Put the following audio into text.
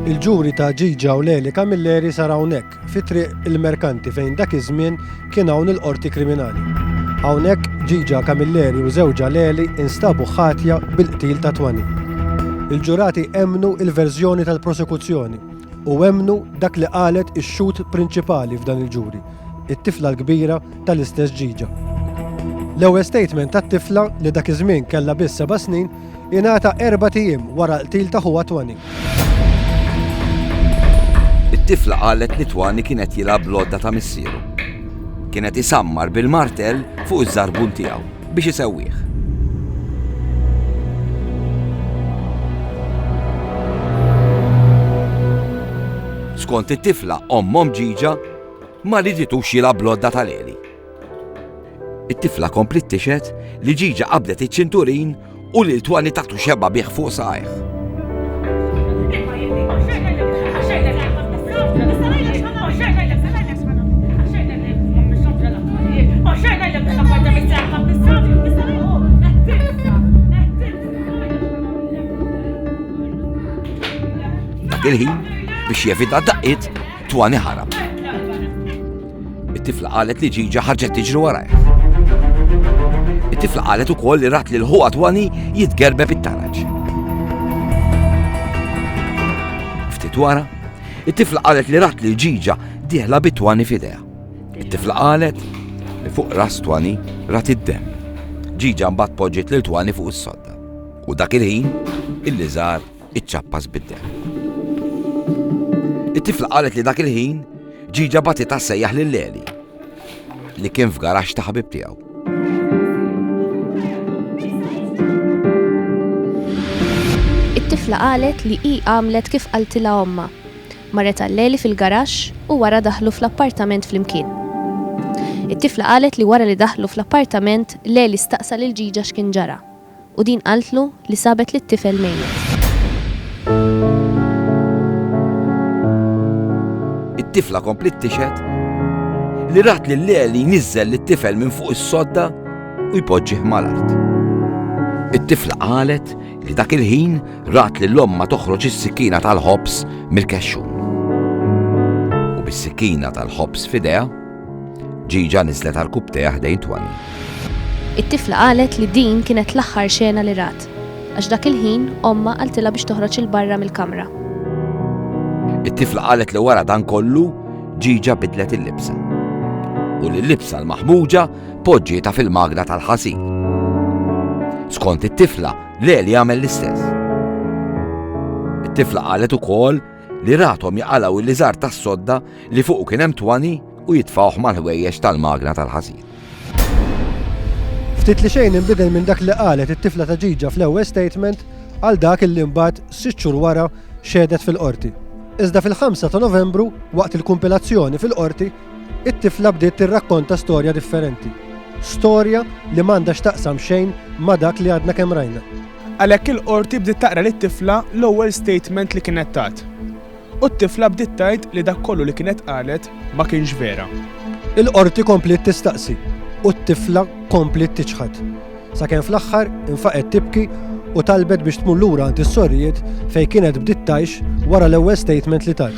Il-ġuri ta' Ġiġa u Leli Camilleri sar hawnhekk, fi triq il-Merkanti fejn dak iż-żmien kien hawn il-Qorti Kriminali. Hawnhekk Ġiġa Camilleri u żewġha Leli instabu ħatja bil-qtil ta' Twani. Il-ġurati emmnu il-verżjoni tal-prosekuzzjoni u emmnu dak li qalet ix-xhud prinċipali f'dan il-ġuri, it-tifla l-kbira tal-istess Ġiġa. L-ewwel statement tat-tifla li dak iż-żmien kellha biss seba' snin ingħata erbat ijiem wara l-qtil ta' ħuha Twani. It-tifla qalet li Twani kien qed jilgħab bl-għodda ta' missieru. Kien qed isammar bil-martell fuq iż-żarbun tiegħu biex isewwih. Skont it-tifla ommhom ġiġa ma riditux jilgħab bl-għodda tal-għeli. It-tifla kompliet tixhed li Ġiġa qabdet iċ-ċinturin u lil Twani taħtu xebgħa bih fuq saqajh. Dak il-ħin biex jevita daqqit Twani ħarab. It-tifla qalet li ġiġa ħarġet tiġri warajh. It-tifla qalet ukoll li rat lil ħuha twani jitgerbeb it-taraġ. Ftit wara, it-tifla qalet li rat lil ġiġa dieħla bit-twani f'idea. It-tifla qalet li fuq ras twani rat id-dem. Ġiġa mbagħad poġġiet lil twani fuq is-sodda. U dak il-ħin, il-liżar iċċappas bid-demm. It-tifla qalet li dak il-ħin ġiġa batitha sejjaħ lil Leli li kien f'garax ta' ħabib tiegħu. It-tifla qalet li hi għamlet kif qaltilha omma. Marret għal-leli fil-garax u wara daħlu fl-appartament flimkien. It-tifla qalet li wara li daħlu fl-appartament leli staqsa lil ġiġa x'kien ġara. u din qaltlu li sabet lit-tifel mejjet. It-tifla kompliet tixhed li rat lil Leli jniżżel lit-tifel minn fuq is-sodda u jpoġġih mal-art. It-tifla qalet li dak il-ħin rat lil ommha toħroġ is-sikkina tal-ħobż mill-kexxun. U bis-sikkina tal-ħobż f'idejha, Ġiġa niżlet għal kubteha ħdejn Twani. It-tifla qalet li din kienet l-aħħar xena li rat, għax dak il-ħin omma qaltilha biex toħroġ il-barra mill-kamra. It-tifla qalet li wara dan kollu ġiġa bidlet il-libsa. U li l-libsa l-maħmuġa poġġieta fil-magna tal-ħasil. Skont it-tifla, Leli għamel l-istess. It-tifla qalet ukoll li rathom jaqalgħu l-liżar tas-sodda li fuqu kien hemm twani u jitfgħuh mal-ħwejjeġ tal-magna tal-ħasil. Ftit li xejn inbidel minn dak li qalet it-tifla ta' Ġiġa fl-ewwel statement għal dak li mbagħad sitt xhur wara xehdet fil-Qorti. Iżda fil-5 ta' Novembru, waqt il-kumpilazzjoni fil-Qorti, it-tifla bdiet tirrakkonta storja differenti. Storja li m'għandha x'taqsam xejn ma' dak li għadna kemm rajna. Għalhekk il-qorti bdiet taqra lit-tifla l-ewwel statement li kienet tat. U t-tifla bdiet tgħid li dak kollu li kienet qalet ma kienx vera. Il-qorti kompliet tistaqsi u t-tifla kompliet tiċħad. Sakemm fl-aħħar infaqet tibki u talbet biex tmur lura għand is-sorijiet fejn kienet bdiet tgħix wara l-ewwel statement li tat.